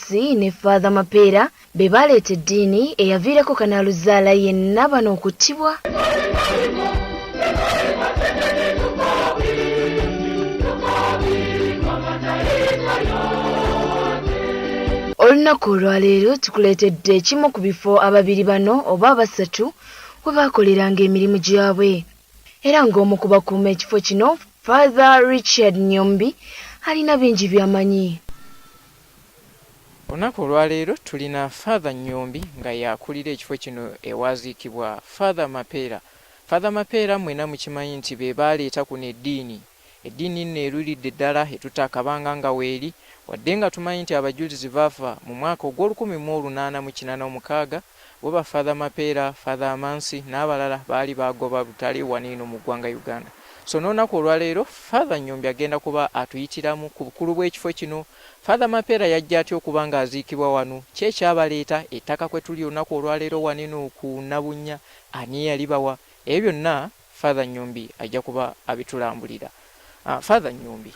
Kaweesi ne Father Mapeera be baaleeta eddiini eyaviirako kanaaluzaala yenna bano okuttibwa. Olunaku olwaleero tukuleetedde ekimu ku bifo ababiri bano oba abasatu we baakoleranga emirimu gyabwe era ng'omu ku bakuuma ekifo kino Father Richard Nyombi alina bingi by'amanyi. Olunaku olwaleero tulina Father Nyombi nga y'akulira ekifo kino ewaaziikibwa Father Mapeera. Father Mapeera mwena mukimanyi nti be baaleeta kuno eddiini. Eddiini nno eruliridde ddala etutte akabanga nga weeri wadde nga tumanyi nti abajulizi baafa mu mwaka ogw'olukumi mu olunaana mu kinaana omukaaga Weba father mapeera, father amansi nabalala baali bagoba butale waniino mu ggwanga Uganda. So nonaku olwaleero father nyombi agenda kuba atuyitiramu ku bukulu bwekifo kino, father mapeera yajja atya okuba nga aziikibwa wano, ki ekyabaleeta, ettaka kwetuli olunaku olwaleero waniino ku Nabunnya, ani eyalibawa, ebyo byonna. Father Nyombi ajja kuba abitulambulira. Father Nyombi,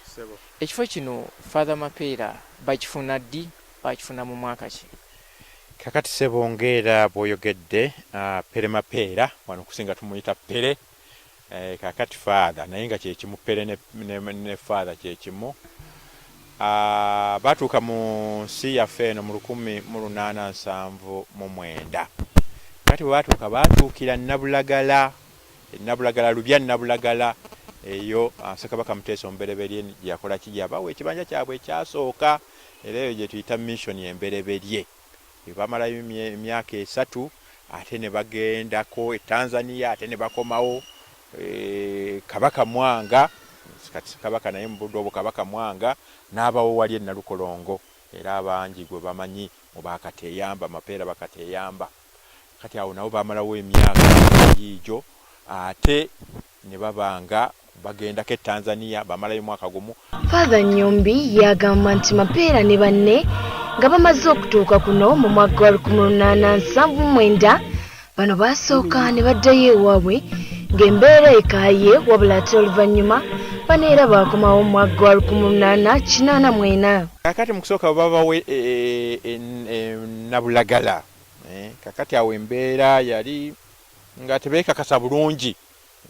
ekifo kino Father Mapeera bakifuna ddi? Baakifuna mu mwaka ki? Kakati ssebo ng'era bw'oyogedde, Pere Mapeera wano kusinga tumuyita Pere, kakati Father naye nga kye kimu, Pere ne Father kye kimu. A, baatuuka mu nsi yaffe eno mu lukumi mu lunaana nsanvu mu mwenda. Kati bwe baatuuka, baatuukira Nabulagala. E Nabulagala, Lubya Nabulagala, eyo a, Ssekabaka Muteesa Omubereberye gye yakola ki? Gye yabawa ekibanja kyabwe ekyasooka, era eyo gye tuyita missioni embereberye. ne bamalayo emyaka esatu ate ne bagendako e Tanzania ate ne bakomawo e, Kabaka Mwanga kati Kabaka naye mu budde obwo Kabaka Mwanga n'abawo wali e Nalukolongo era abangi gwe bamanyi mu bakateyamba mapeera bakateyamba kati awo nabo bamalawo emyaka giijo ate ne baba nga bagendako e Tanzania bamalayo mwaka gumu. Father Nyombi y'agamba nti Mapeera ne banne nga bamaze okutuuka kuno mu mwaka gwa lukumi lunaana nsanvu mu mwenda bano baasooka ne baddayo ewaabwe ng'embeera ekaaye wabula ate oluvannyuma bano era baakomawo mu mwaka gwa lukumi lunaana kinaana mwena. Kakati mu kusooka bwe babawa e, e, e, Nabulagala eh, kakati awo embeera yali nga tebekakasa bulungi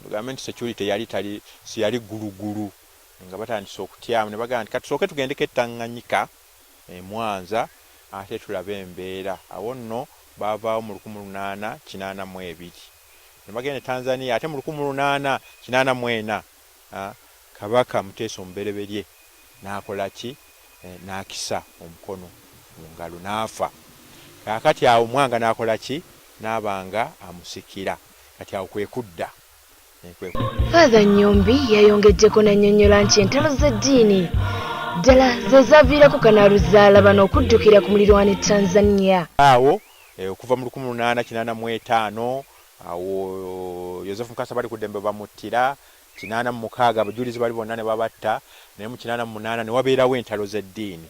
tugambe nti security yali tali siyali ggulugulu nga batandise okutyamu ne bagamba nti katusooke tugendeko e Tanganyika e Mwanza ate tulabe embeera. Awo nno baavaawo mu lukumi lunaana kinaana mu ebiri ne bagenda e Tanzania ate mu lukumi lunaana kinaana mu ena. Kabaka Muteesa Omubereberye n'akola ki? N'akisa omukono mu ngalo n'afa. Kaakati awo Mwanga n'akola ki? N'aba nga amusikira. Kati awo kwe kudda. Faaza Nyombi yayongeddeko n'annyonnyola nti entalo z'eddiini ddala ze zaaviirako kanaaluzaala bano okuddukira ku mulirwano e Tanzania. Awo okuva mu lukumi mu lunaana kinaana mu etaano Awo Yozefu Mukasa bali ku ddembe bamuttira kinaana mu mukaaga, abajulizi bali bonna ne babatta, naye mu kinaana mu munaana ne wabeerawo entalo z'eddiini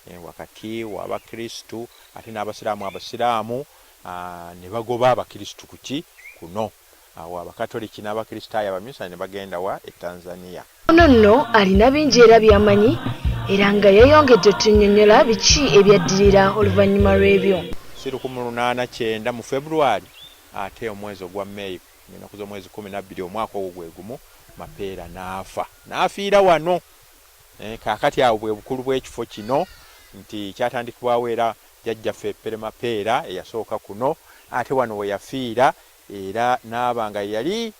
eh, wakati w'Abakristu ate n'Abasiraamu. Abasiraamu ah, ne bagoba Abakristu ku ki kuno, awo Abakatoliki n'Abakristaayo Abaminsani ne bagenda wa e Tanzania. Ono nno alina bingi era byamanyi era nga yayongedde otunyonyola biki ebyaddirira oluvannyuma lw'ebyo. Si lukumi lunaana kyenda mu February ate omwezi ogwa May ng'ennaku z'omwezi kkumi na bbiri omwaka ogwo gwe gumu Mapeera n'afa n'afiira wano. Eh, kaakati awo bwe bukulu bw'ekifo kino nti kyatandikibwawo era jjajjaffe Pere Mapeera eyasooka kuno ate wano we yafiira era n'aba nga yali